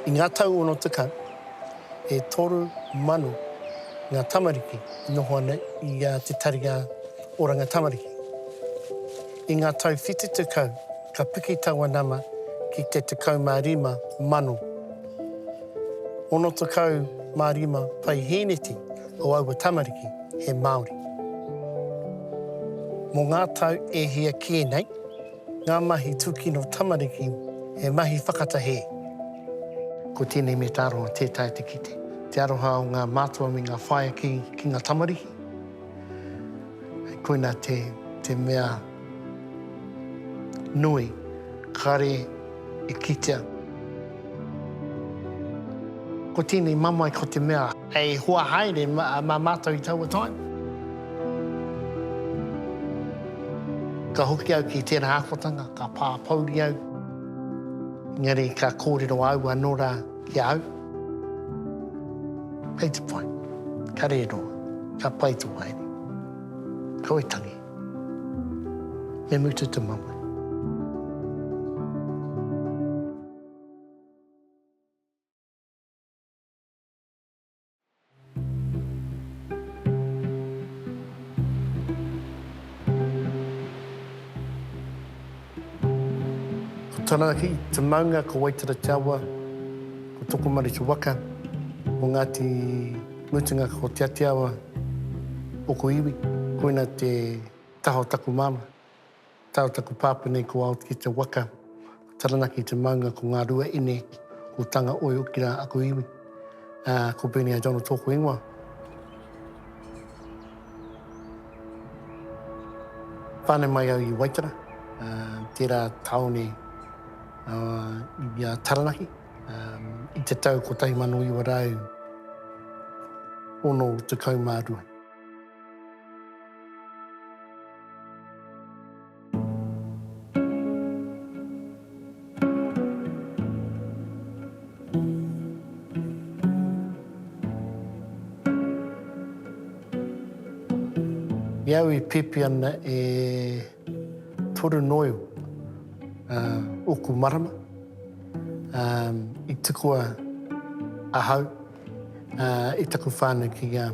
I ngā tau ono tekau, e toru mano ngā tamariki i noho ana i te Tari Oranga Tamariki. I ngā tau whitu tekau, ka piki taua nama ki te tekau mā rima mano, ono tekau mā rima paihēneti o aua tamariki he Māori. Mō ngā tau e hia kē nei, Ngā mahi tūkino tamariki, he mahi whakatahē. Ko tēnei me tā roa tē taea te kite. Te aroha o ngā mātua me ngā whaea ki ngā tamariki, koina te mea nui. Kare e kitea. Ko tēnei mamae ko te mea hei hoa haere mā mātou i taua taim. Ka hoki au ki tērā ākotanga, ka pā pouri au, engari ka kōrero au anō rā ki a au. Hei te pai, ka rēroa, ka pai tō haere. Ka oi tangi. Me mutu te mamae. Ko Tarahi te maunga, ko Waitara te awa, ko Tokomaru te waka, ko Ngāti Mutunga ko Te Atiawa o ko iwi. Koina te taha o taku māmā. Tae o taku pāpā nei ko Aotiki te waka, ko Taranaki te maunga, ko Ngārua ine, ko Tangaoio hoki rā aku iwi. Ko Bernie a Donald tōku ingoa. Tāne mai au i Waitara, tērā tāone i a Taranaki, i te tau 1962. I au i pipi ana e toru noio oku marama i tukua ahau i taku whanau ki nga.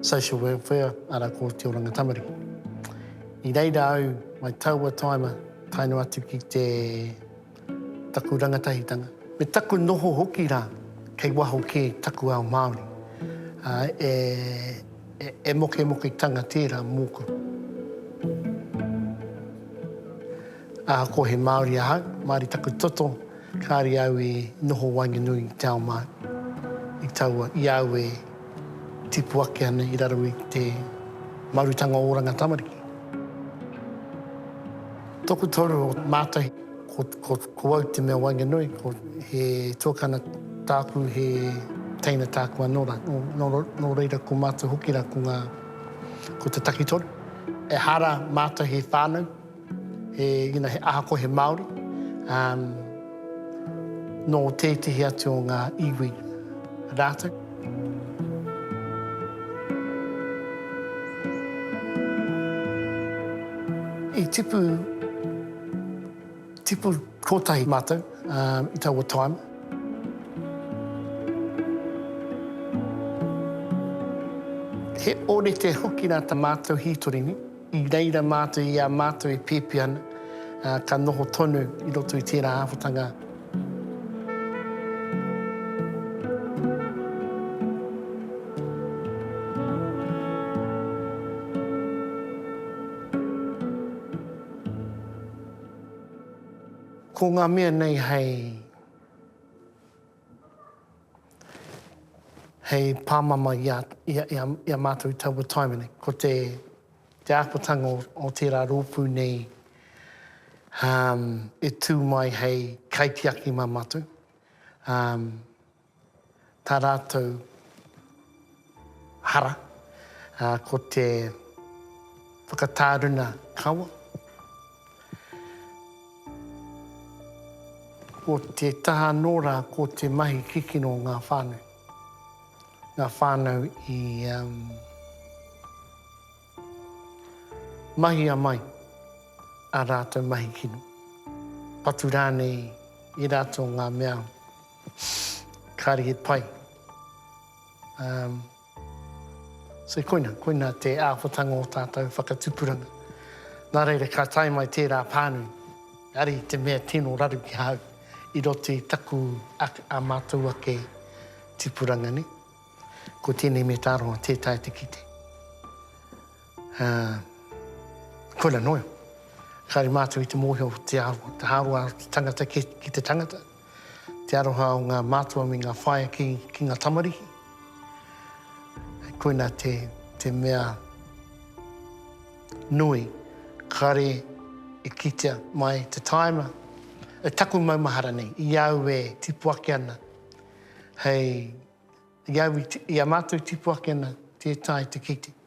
Social Welfare, ara ko Te Oranga Tamariki. I reira au, mai taua taima, tae noa atu ki te, taku rangatahitanga, me taku noho hoki ra, kei waho ke taku ao Maori, a, e, e, e mokemoketanga tera moku. Ahako he Maori ahau, maari taku toto, kaare au e noho waenganui i te ao Maori, i taua, i au e, tipu ake ana i raro i te marutanga o oranga tamariki. Toku toru o mātai, ko, ko, ko au te mea waenganui, ko he tuakana tāku, he teina tāku anō rā. Nō, nō, nō reira ko mātou hoki rā ko ngā, ko te takitoru. Ehara mātou he whānau, He, you know, he aha ko he Māori, um, nō tētehi atu o ngā iwi rātou. I tipu, tipu kōtahi mātou um, i taua time. He orete hoki rā tā mātou hītori ni. I reira mātou i a mātou i pēpi ana, ā, ka noho tonu i roto i tērā āhuatanga. Ko ngā mea nei hei. hei pāmama i a, i a, i a, i a mātou taua taiwhene. Ko te, te ākotanga o, o tērā rōpū nei um, e tū mai hei kaitiaki mā mātou. Um, tā rātou hara, ā, ko te whakatāruna kawa, ko te taha anō rā, ko te mahi kikino o ngā whānau, ngā whānau i mahia mai ā rātou mahi kino, patu rānei i rātou ngā mea kāre e pai. Um, so koina, koina te āhuatanga o tātou whakatupuranga. Nā reira, ka tae mai tērā pānui, ari te mea tino raru ki hau, i roto i taku a, a mātou ake tipuranga, ne? Ko tēnei me tāroa, tē tae te kite. Ā, koina noa. Kāore mātou i te mōhio o te ahu, te hāroa o te tangata ki, ki te tangata, te aroha o ngā mātua me ngā whaea ki, ki ngā tamariki. Koina te, te mea nui, kāore e kitea mai te tāima, e taku maumahara nei, i au e tipu ake ana hei, i au i, i a mātou tipu ake ana tētahi te kite.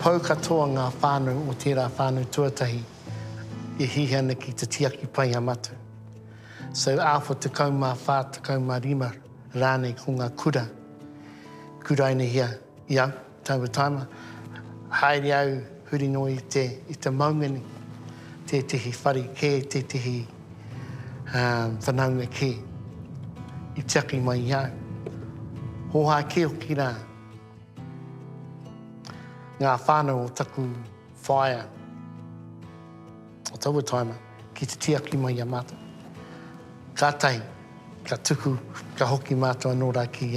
Pau katoa ngā whānau o tērā whānau tuatahi i hihia ana ki te tiaki pai a Matu. So āwha tekau mā whā, tekau mā rima rānei ko ngā kura kurainehia i a Taua tāna, haere au huri noa i te, i te maunga nei, tētehi whare kē, tētehi whanaunga kē i tiaki mai i au. Hōhā kē hoki rā ngā whānau o taku whaea o taua tāna. Ki te tiaki mai i a mātou. Kātahi ka tuku, ka hoki mātou anō rā ki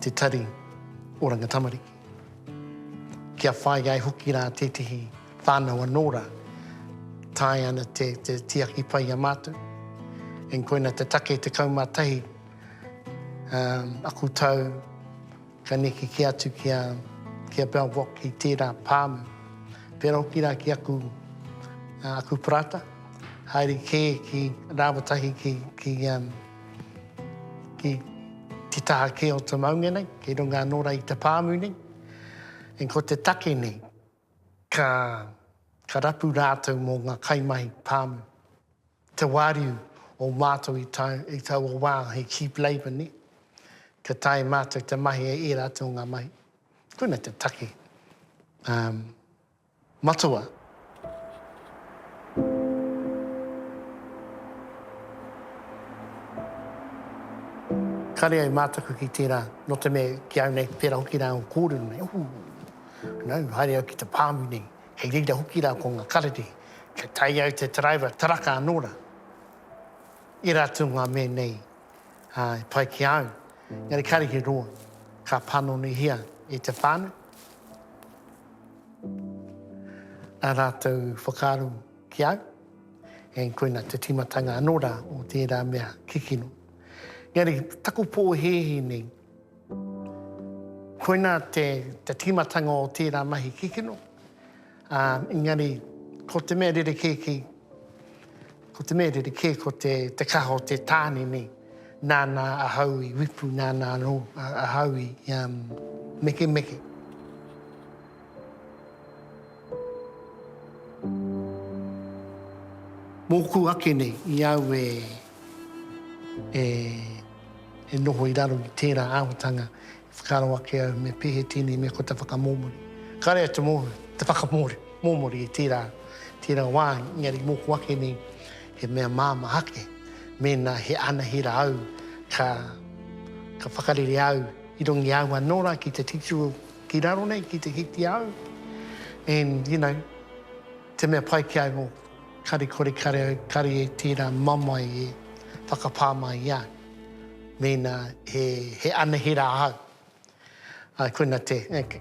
te tari oranga tamariki. Kia whai ai hoki rā tētehi whānau anō rā, taea ana te tiaki pai i a mātou. Koina te take 11 aku tau Ka neke kē atu ki a, ki a Bell Vok i tērā pāmu. Pērā hoki rā ki aku, aku parata, haere kē ki rāwa tahi ki, ki, um, ki te taha kē o te maunga nei, kei runga anō rā i te pāmu nei. And ko te take nei, ka, ka rapu rātou mō ngā kaimahi pāmu. te wāriu o mātou i tau, i taua wā he cheap labour, nē? Kia tae mātou te mahi e ērā atu o ngā mahi. Koina te take um, matua. Kare ai mātaku ki tērā, no te mea ki au nei, tērā hoki rā o kōrero nei. Uhu, no, haere au ki te pāmu nei. Kei reira hoki rā ko ngā karere, kia tae ai te taraiwa, taraka anō rā. Ērā atu ngā mea nei e pai ki a au, engari kāre he roa ka panonihia e te whānau ā rātou whakaaro ki au, engari koina te tīmatanga anō rā o tērā mea kikino. Engari taku pōhēhē nei, Koina te tīmatanga o tērā mahi kikino, ā, engari ko te mea rerekē kei, ko te mea rerekē ko te kaha o te tāne nei, nāna ahau i wipu, nāna anō ahau i mekemeke. Mōku ake nei i au e E noho i raro i tērā āhotanga e whakaaro ake au me pehe tēnei mea ko te whakamōmori. Kāre au te mōhio, te whakamōmori i tērā, tērā wā, engari mōku ake nei he mea māmā ake mēnā he anahera au ka, ka whakarere au i runga i a au anō rā ki te titiro ki raro nei, ki te hikia au. And, you know. Te mea pai ki a au, kare kore kare au, kare e tērā mamae e whakapā mai i a au, mēnā he anahera ahau. Āe, koina te,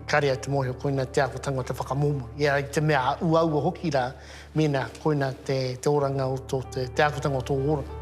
kare au te mōhio, koina te āhuatanga o te whakamōmō. I a au te mea uaua hoki rā, mēnā koina te oranga o tō, te āhuatanga o tō oranga.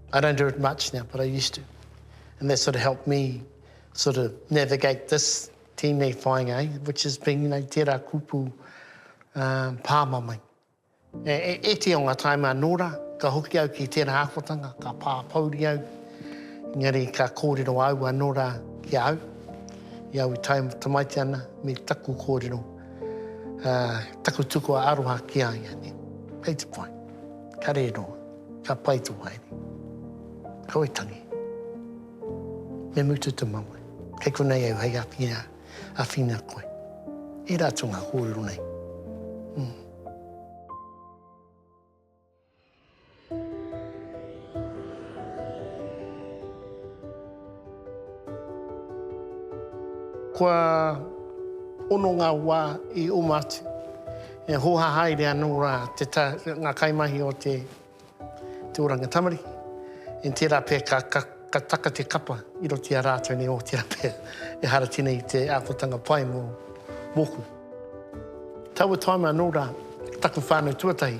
I don't do it much now but I used to and that sort of helped me sort of navigate this teenei whainga eh which is being you know tera kupu umm pāmamai. Ētehi o ngā taim anō rā ka hoki au ki tērā āhuatanga ka pāpouri au engari ka kōrero au anō rā ki a au i au i tae tamaiti ana me taku kōrero taku tukua aroha ki a ia nei. Kei te pai. Ka rē roa. Ka pai to haere. Kau e tangi. Me mutu to mamae. Kei konei au hei awhina, awhina koe. I ra to nga korero nei. Kua ono nga wa i oma atu. E hōhā haere anō rā te ta, ngā kaimahi o te, te oranga tamariki. I tērā pea ka, ka, ka taka te kapa i roto i a rātou nei o tērā pea ehara tēnei te ākotanga pai mō, mōku. Taua time anō rā taku whānau tuatahi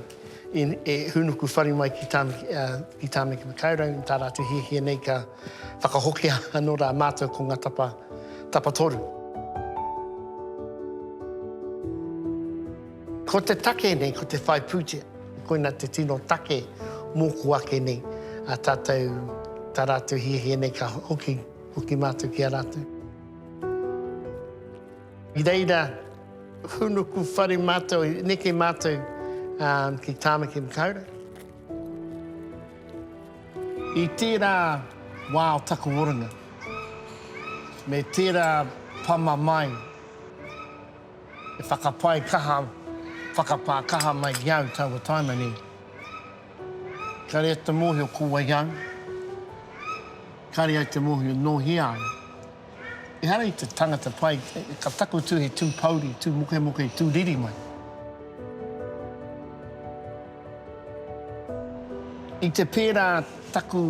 i, e hūnuku whare mai ki Tāmaki, ki Tāmaki Makaurau, tā rātou hiahia nei ka, Whakahokia anō rā mātou ko ngā tapa, tapa toru. Ko te take nei, ko te whai pūtea, koina te tino take mōku ake nei, a tātou, tā rātou hiahia nei ka hoki, hoki mātou ki a rātou. I reira, hūnuku whare mātou, neke mātou um, ki Tāmaki Makaurau. I tērā wā o taku oranga, me tērā pama mai e whakapae kaha, whakapā kaha mai ki au taua taima nei, kare au te mōhio ko wai au, kare au te mōhio nōhia au. Ehara i te tangata pai, ka takoto he tū pouri, tū mokemoke, tū riri mai. I te pērā taku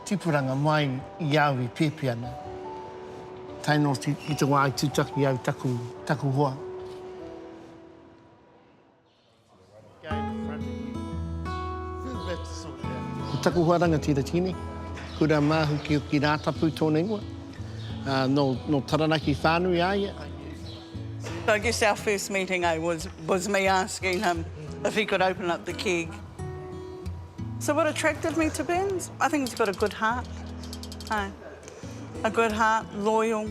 tipuranga mai i au i pēpi ana, tae noa ki te wā i tūtaki au taku hoa. Ko taku hoa rangatira Tini, Kura Māhukihuki Rātapu tōna ingoa. Nō, nō Taranaki whānui a ia. So I guess our first meeting eh, was, was me asking him if he could open up the keg. So what attracted me to Burns? I think he's got a good heart. Aye. A good heart, loyal.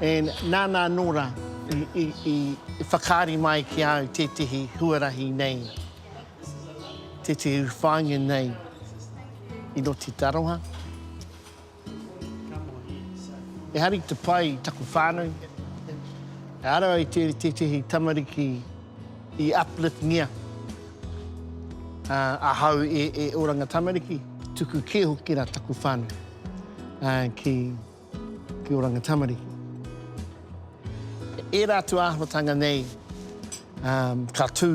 And nāna anō rā i whakaari mai ki a au tētehi huarahi nei, tētehi whāinga nei i Roti Taroha. E hari te pai i taku whānau, e ara ai tētehi tamariki i uplift-ngia ahau e oranga tamariki, tuku kē hoki rā taku whānau. ki Oranga Tamariki. Ērā atu āhuatanga nei ka tū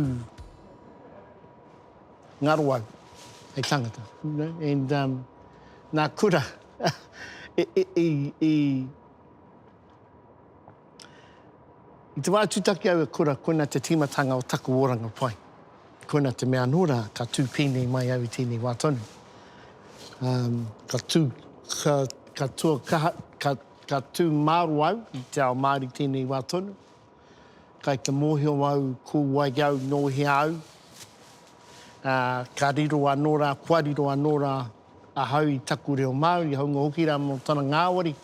ngaro au hei tangata. And nā kura i I te wā e tūtaki au e kura, koina te tīmatanga o taku oranga pai. Koina te mea anō rā, ka tū pēnei mai au i tēnei wā tonu. Um, ka tū, ka, ka tū, ka, ka, ka tū māro au i te ao Māori tēnei wā tonu. Kai te mōhio au, ko wai au, nō hea au. Uh, ka riro anō rā, kua riro anō rā, Ahau i taku reo Māori, hāunga hoki rā mō tana ngāwari,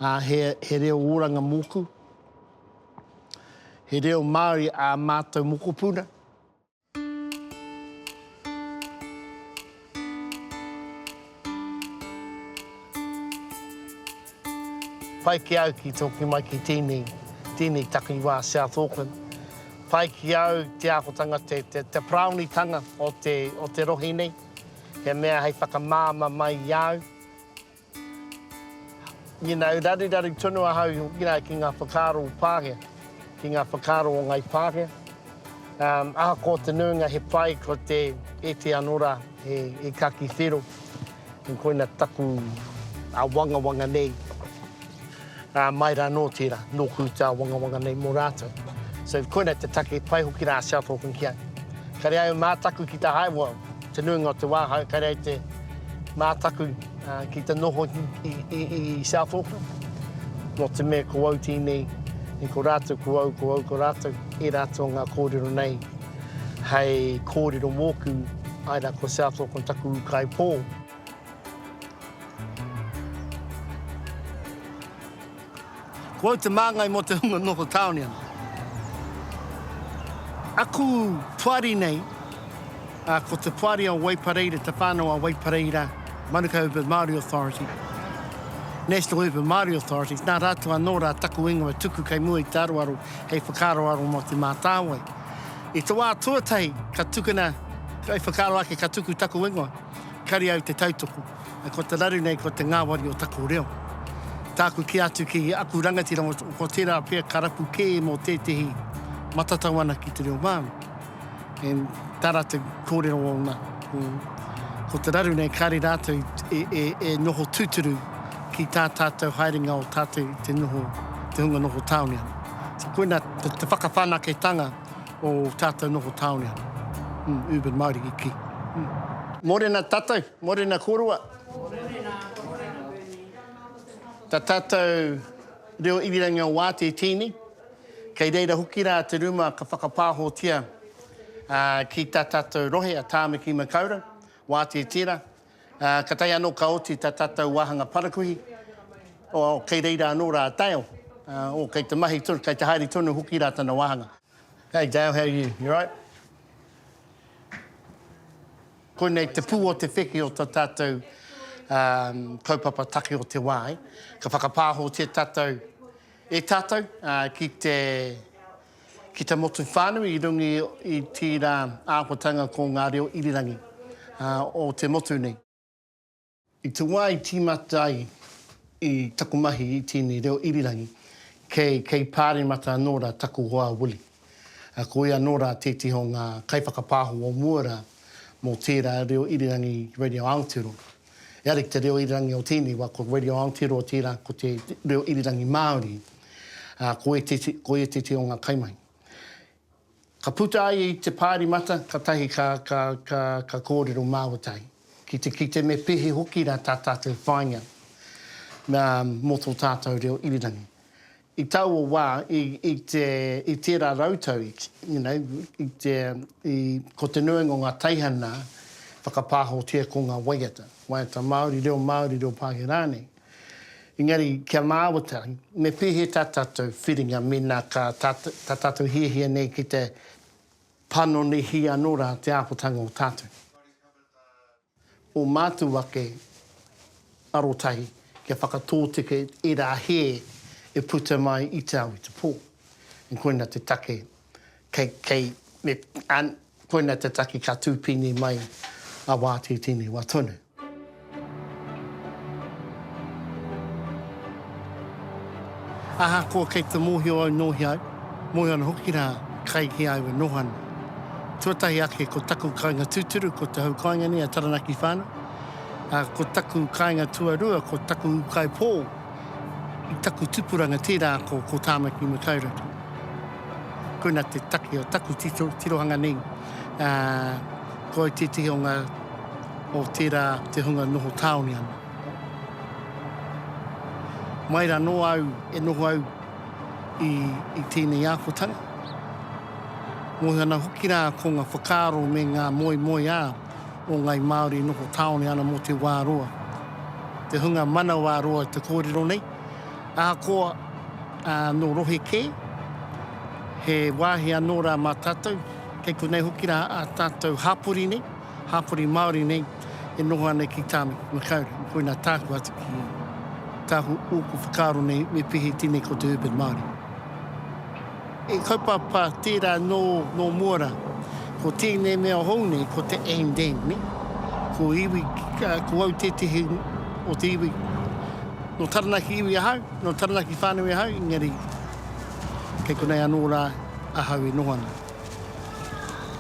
ā, he, he reo oranga mōku. He reo Māori ā mātou mokopuna. Pai ki au ki toki mai ki tēnei, tēnei takiwā South Auckland. Pai ki au te ākotanga, te, te, te paraonitanga o te, o te rohe nei. He mea hei whakamāma mai i au. You know, raruraru tonu ahau hoki rā ki ngā whakaaro o Pākehā, ki ngā whakaaro o Ngāi Pākehā. Um, ahakoa te nuinga he pai ko te eti anō rā e, e kaki whero. Koina taku awangawanga nei. Ā, mai rā nō tērā, nōku te āwangawanga nei mō rātou. So, koinei te take, pai hoki rā a South Auckland ki au. Ka rere ai au mātaku ki te hae, well, te nuinga o te wā, haere kai rā i te mātaku ki te noho i South Auckland. Nō te mea ko au tēnei, i ko rātou ko au, ko au ko rātou, e rātou ngā kōrero nei, hei kōrero mōku, ai rā ko South Auckland taku ūkaipō. Ko au te māngai mō te hunga noho tāone ana. Aku poari nei, ko te poari o Waipareira, te whānau a Waipareira, Manukau Urban Māori Authority, National Urban Māori Authority, nā rātou anō rā taku ingoa tuku kei mua i te aroaro hei whakaaroaro mō Te Mātāwai. I te wā tuatahi ka tukuna, kei whakaaro ake ka tuku taku ingoa, Kare au te tautoko, ko te raru nei ko te ngāwari o taku reo. Tāku kī atu ki aku rangatira ko tērā pea ka rapu kē mō tētehi matatau ana ki te reo Māori. And tā rātou kōrero ōna, ko te raru nei kāre rātou e noho tūturu ki tā tātou haerenga o tātou te noho, te hunga noho tāone ana. So koina te whakawhanaketanga. o tātou noho tāone ana. Urban Mariki ki. Morena tatou, morena koroa. Morena, morena Bernie. Ta tatou reo irirangi o Waati e tiini, kei reira hoki ra te ruma ka whakapaahotia ki ta tatou rohe a Taamiki Makaurau, Waati e tira, Ā, ka tae anō ka oti tā tātou wāhanga parakuihi, ā, kei reira anō rā a Dale, ā, ō, kei te mahi tonu, kei te haere tonu hoki rā tana wāhanga. Hey Dale, how are you? You right? Koinei te pū o te wheke o tā tātou, ā, kaupapa take o te wā, e. Ka whakapāhotia tātou e tātou, ā, ki te. Ki te motu whānui i runga i tērā āhuatanga ko ngā reo irirangi o te motu nei. I te wā i tīmata ai i taku mahi i tēnei reo irirangi, kei, kei Pāremata anō rā taku hoa Willie. Ko ia anō rā tētehi o ngā kaiwhakapāho o mua rā mō tērā reo irirangi Radio Aotearoa. Eari ki te reo irirangi o tēnei wa, ko Radio Aotearoa tērā, ko te reo irirangi Māori, ā, ko ētehi, ko ētehi o ngā kaimahi. Ka puta ai i te Pāremata, katahi ka, ka, ka, ka kōrero māwatai, ki te kite me pehe hoki rā tā tātou whāinga nā, mō tō tātou reo irirangi. I taua wā, i, i te, i tērā rautau, i, you know, i te, i, ko te nuinga o ngā teihana whakapāhotia ko ngā waiata, waiata Māori, reo Māori, reo Pākehā rānei. Engari, kia māwata, me pēhea tā tātou whiringa mēnā ka, tā, tā tātou hiahia nei ki te panonihi anō rā te āpotanga o tātou. o mātou ake arotahi kia whakatōtika i ērā hē e puta mai i te ao, i te pō. And koina te take kei, kei, me, and koina te take ka tūpīni mai a wā tētēnei wā tonu. Ahakoa kei te mōhio au nō hea au, mōhio ana hoki rā kai hea au e noho ana. Tuatahi ake ko taku kāinga tūturu ko te hau kāinga nei a Taranaki Whānau, ā, ko taku kāinga tuarua ko taku ūkaipō i taku tupuranga tērā ko, ko Tāmaki Makaurau. Koina te take o taku tito, tirohanga nei, ā, ko au tētehi o ngā, o tērā te hunga noho tāone ana. Mai ra noa au e noho au i tenei akotanga. Mohi ana hoki ra ko nga whakaaro me nga moemoeā o ngai Maori e noho taone ana mo te wa roa. Te hunga manawa roa te korero nei, ahakoa no rohe ke, he wahi ano ra ma tatou, kei konei hoki ra a tatou hapori nei, hapori Māori nei e noho ana ki tāna makaurau. Koina tāku atu ki tāku ōku whakaaro nei me pihi tēnei ko te urban Māori. He kaupapa tērā nō, nō mua rā. Ko tēnei mea hou nei ko te and and ne? Ko iwi, ko au tētehi o te iwi nō Taranaki iwi ahau, nō Taranaki whānui ahau engari kei konei anō rā ahau e noho ana.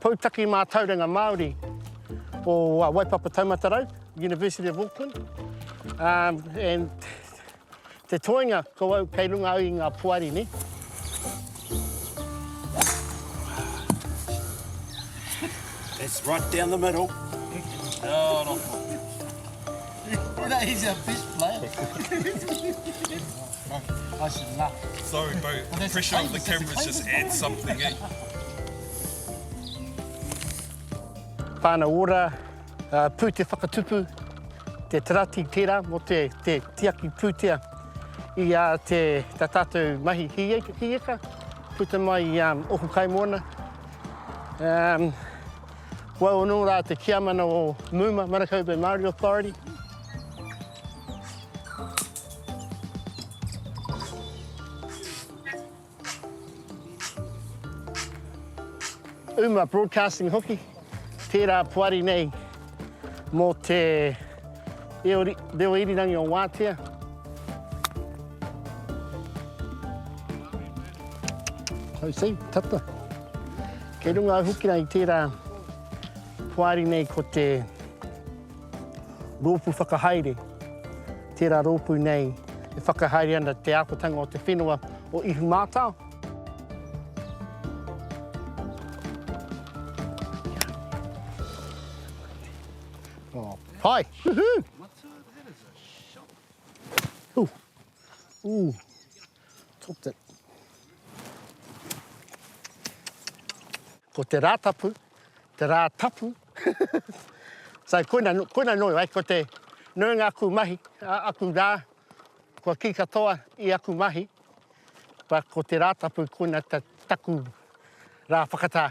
Poutaki Mātauranga Māori o Waipapa Taumata Rau, University of Auckland, um, and te toenga ko au kei runga au i ngā poari ni. It's right down the middle. Oh, no. He's a fish player. Whana ora, pu te whakatupu, te tarati tera mo te tiaki putea i a te ta tatou mahi hieka puta mai i a oku kaimoana. Wau ono ra te tiamana o Muma, Manukau Bay Maori Authority. Uma Broadcasting hoki, tērā poari nei mō te reo irirangi o Wātea. Hau sei, tata. Kei runga au hoki rā i tērā poari nei ko te Rōpū Whakahaere, Tērā rōpū nei e whakahaere ana te ākotanga o te whenua o Ihumātao. Hi! Woohoo! Ooh! Ko te Rātapu, te rā tapu. So koina, koina nō ai, ko te nuinga aku mahi, aku rā, kua kī katoa i aku mahi, but ko te Rātapu, koina te taku rā whakatā.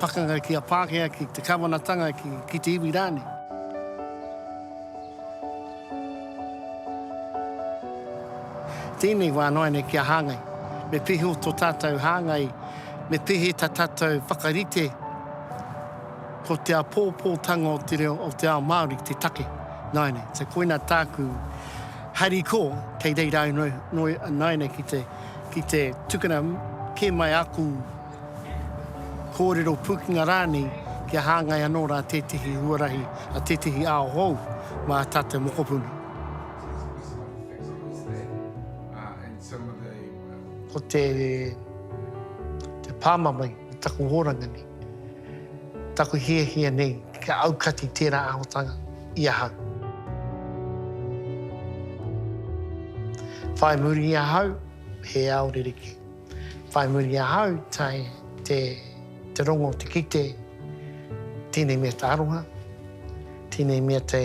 Pakanga ki a Pākehā, ki te Kawanatanga, ki, ki te iwi rānei. Tēnei wā noa nei kia hāngai. Me piho to tātou hāngai, me pehe ta tātou whakarite ko te apōpōtanga o te reo o te ao Māori te take. Noa nei, so koina tāku hari ko, kei reira au noe, noe, noe nei ki te, ki te tukuna kē mai aku Kōrero pūkenga rānei kia hāngai anō rā tētehi huarahi a tētehi ao hou mā tā te mokopuna. Ko te pāmamae o taku hōranga nei, taku hiahia nei kia aukati tērā ahotanga i ahau. Whai muri i ahau he ao rerekē. Whai muri ahau tai te te rongo te kite tenei mea te aroha tenei mea te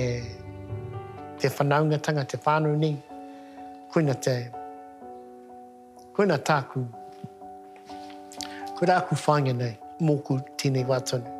te whanaungatanga te whanau nei koina te koina taku koina aku whainga nei moku tenei wa tonu.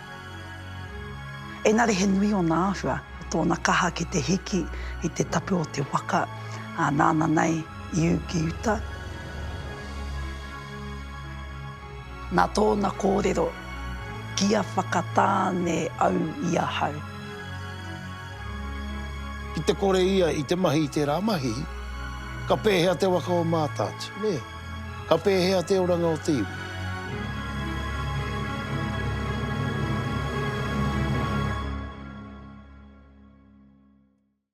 Engari he nui ōna āhua, ko tōna kaha ki te hiki i te tapu o te waka, ā, nāna nei i ū ki uta. Nā tōna kōrero, Kia whakatāne au i ahau. Ki te kore ia i te mahi i tērā mahi, ka pēhea te waka o Mātaatua, nē? Ka pēhea te oranga o te iwi?